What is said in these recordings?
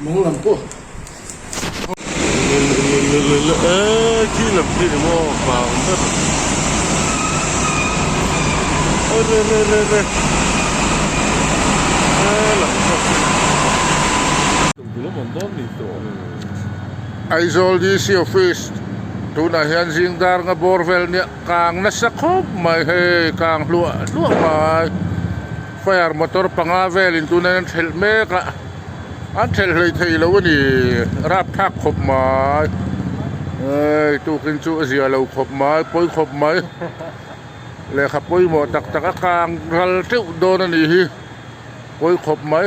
Mawnglam pawh Aizawl DC Office tunah hian zing darnga bawr vel nia kang nasa khawp mai hei kang hluah hluah mai fire motor panga velin tuna hian a thelh mek a. an thelh hlei thei lo a ni rap thak khawp mai eii tukin chu a zia lo khawp mai pawi khawp mai lehkha pawimawh tak tak a kang ral teuh dawn a nih hi pawi khawp mai.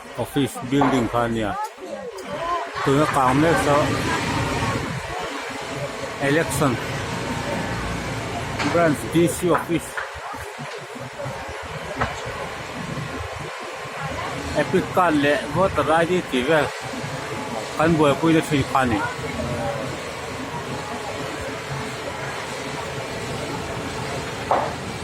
Office building kha a nia tuna kang mek saw election branch DC office epic card leh voter id tih vel kan buaipui na thin kha a ni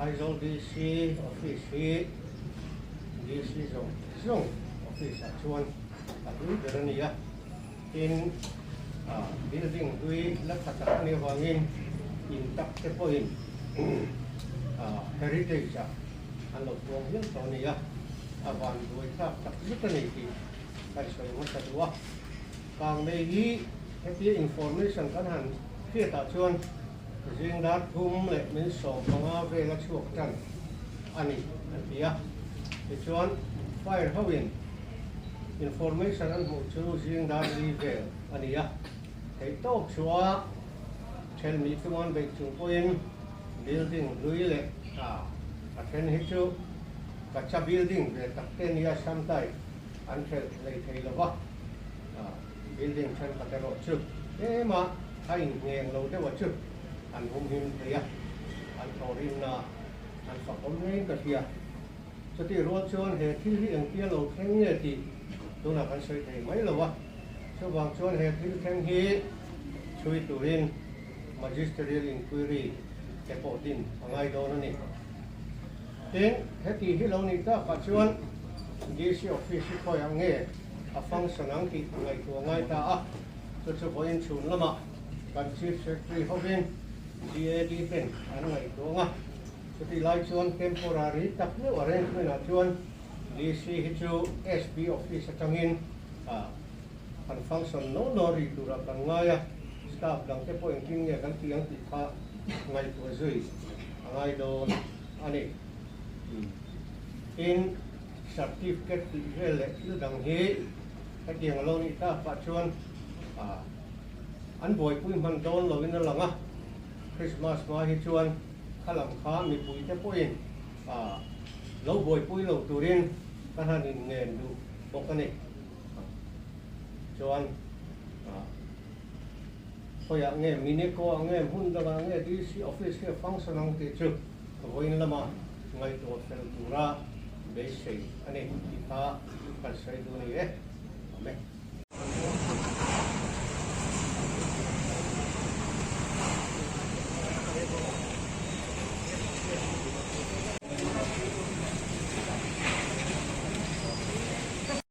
Aizawl DC office hi DC zawng zawng office ah chuan a hlui ber a ni a, tin building hlui la tha tak mai avangin in tak te pawhin heritage ah an lo tuam hial tawh a ni a, a van buai thlak tak zet a ni tih ka i sawi hmasa duh a. Kang mei hi hetia information kan han hriat ah chuan. Zing dar thum leh min sawm panga vel a chhuak tan a ni, a ti a. Tichuan, file hoin information an hmuh chu zing dar li vel a ni a. Theih tawp chuah chhel mi chuan beih chung pawhin building hlui leh tha a then hi chu Kacha building ve tak te nia, sometimes an chhel lei thei lo va. Building thenkhat erawh chu tlêmah a inhngêng lo deuhah chu an humhim thei a, an thaw rinnaah an sakhawm ngeiin ka hria. Chutih rual chuan he thil hi engtia lo thleng nge tih tunah kan sawi thei mai lo a. Chuvang chuan he thil thleng hi chhui turin Magisterial Inquiry te pawh din a ngai dawn a ni. Tin, heti hi lo ni takah chuan DC Office hi khawiah nge a function ang tih ngaihtuah ngai ta a, chu chu vawiin chhun lamah kan Chief Secretary hovin GAD ten an ngaihtuah ang a, chutih lai chuan temporary tak meuh arrangement ah chuan DC hi chu SB Office atangin han function nawl nawl rih turah kan ngai a, staff dangte pawh engtin nge kan tih ang tih kha ngaihtuah zui a ngai dawn. a ni. Tin, certificate tih vel leh thil dang hi hetiang a lo nih ta, pah chuan an buaipui hman dawn lovin a lang a, Krismas hma hi chuan kha lam kha mipui te pawhin lo buaipui lo turin ka han inngen duh bawk a ni. Chuan. Khawiah nge, Mineko-ah nge, hmun dangah nge, DC office nge function ang tih chu vawiin lama ngaihtuah fel tura beisei a ni tih kha kan sawi duh a ni e. Awm e.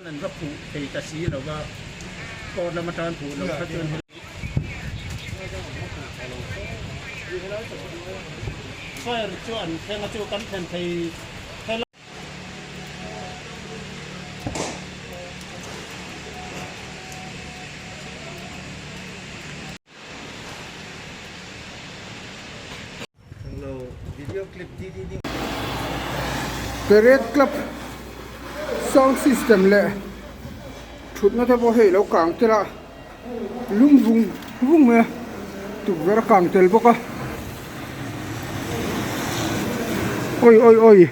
An an va phuh thei ta si lo va, court lam atang an phuh lo kha chuan hei Soil chu an thleng a chu kan thlen thei thei lo. The Red Club sound system leh thutna te pawh hei lo kang tel a lung vung vung maia tukverh a kang tel bawk a awii awii awii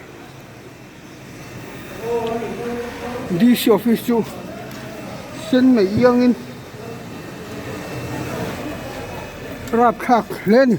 D C office chu sen mai iangin rap thlak hle a ni.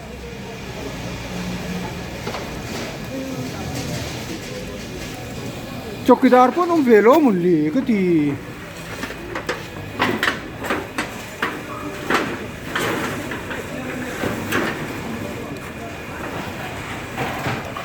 Chawkidar pawh an awm ve lo mawni le ka ti.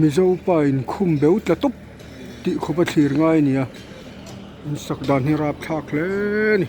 Mizopa in khum beu tla tawp tih khawpa thlir ngai a ni a. Insak dan hi rap thlak hle a ni.